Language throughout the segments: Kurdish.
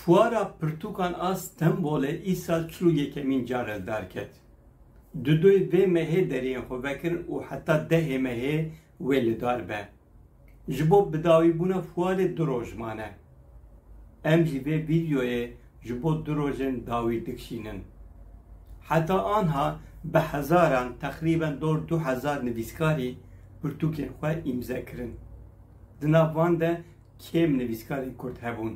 Fuara pirtûkan a Stenbolê îsal çil û yekemîn car e derket. Dudoyê vê mehê deriyên xwe vekirin û heta dehê mehê wê li dar be. Ji bo bidawîbûna fuarê du roj mane. Em jî vê vîdeoyê ji bo du roj in dawî dikişînin. Heta anha bi hezaran teqrîben dor du hezar nivîskarî pirtûkên xwe îmze kirin. Di nav van de kêm nivîskarên kurd hebûn.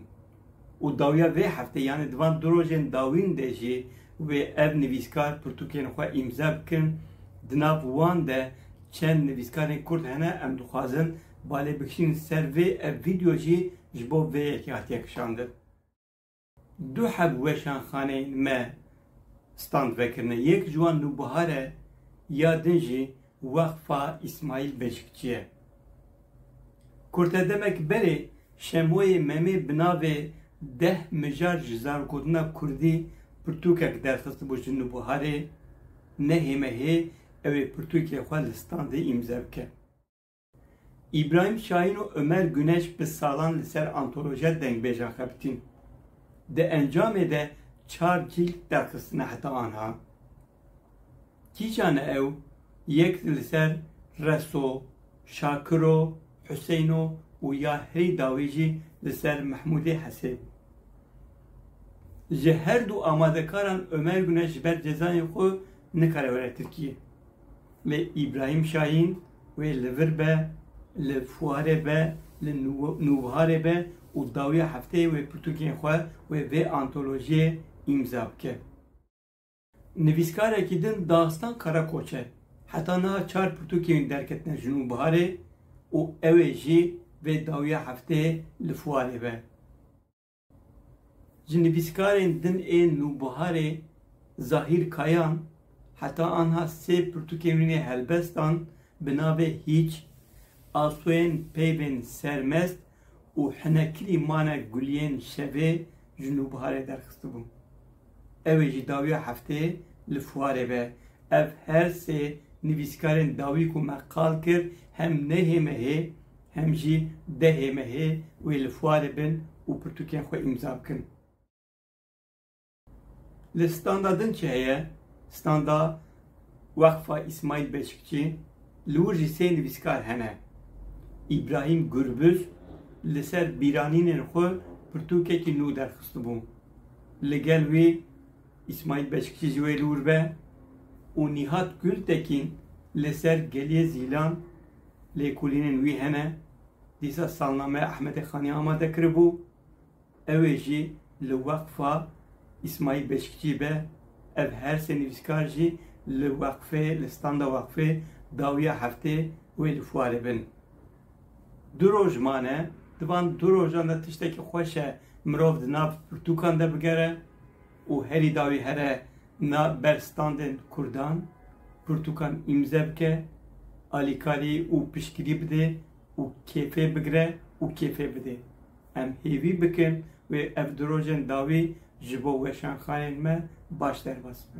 Û dawiya vê hefteyê yanî di van du rojên dawîn de jî wê ev nivîskar pirtûkên xwe îmze bikin. Di nav wan de çend nivîskarên kurd hene em dixwazin Ba lê bikişînin ser vê, ev vîdeo jî ji bo vê yekê hatiye kişandin. Du heb weşanxaneyên me stand vekirine. Yek ji wan Nûbihar e, ya din jî Weqfa Îsmaîl Beşikçî ye. Kurte demek berê Şemoyê Memê bi navê Deh mijar ji zarokgotina kurdî pirtûkek derxistibû ji Nûbiharê, nehême hê ew ê pirtûkê xwe li standê îmze bike. Îbrahîm Şahîn û Omer Guneş bi salan li ser antolojiya dengbêjan xebitîn. Di encamê de çar cîld derxistine heta anha. Kîjan e ew? Yek li ser Reso, Şakiro, Huseyno û ya herî dawî jî li ser Mehmûdê Hesê. Ji her du amadekaran Omer Guneş ji ber cezayên xwe nikare were Tirkiyê. Lê Îbrahîm Şahîn, Wê li vir be, li fuarê be, li nûbiharê be û dawiya hefteyê wê pirtûkên xwe wê vê antolojiyê îmza bike. Nivîskarekî din Daxistan Karakoç e. Heta niha çar pirtûkên wî derketine ji nûbiharê û ew ê jî vê dawiya hefteyê li fuarê be. Ji nivîskarên din ê Nûbiharê Zahîr Kayan heta anha sê pirtûkên wî ne helbest an bi navê Hîç, Asoyên peyvên sermest û Hinekirî mane guliyên şevê ji Nûbiharê derxistibû. Ew ê ji dawiya hefteyê li fuarê be. Ev her sê nivîskarên dawî ku me qal kir hem neyê me hê, hem jî dehê me hê wê li fuarê bin û pirtûkên xwe îmza bikin. Li standa din çi heye? Standa Weqfa Îsmaîl Beşikçî li wir jî sê nivîskar hene. Îbrahîm Gurbuz li ser bîranînên xwe pirtûkekî nû derxistibû. Li gel wî Îsmaîl Beşikçî ji wê li wir be û Nîhat Gultekîn li ser Geliyê Zîlan Lêkolînên wî hene, dîsa salnameya Ehmedê Xanê amade kiribû, ewê jî li weqfa Îsmaîl Beşikçî be, ev her sê nivîskar jî li weqfê li standa weqfê dawiya heftê wê li fuarê bin. Du roj mane, di van du rojan de tiştekî xweş e mirov di nav pirtûkan de bigere. û herî dawî here na ber standên Kurdan, pirtûkan îmze bike, alîkarî û piştgirî bide û kêfê bigire û kêfê bide. Em hêvî bikin wê ev di rojên dawî ji bo weşanxanên me baş derbas be.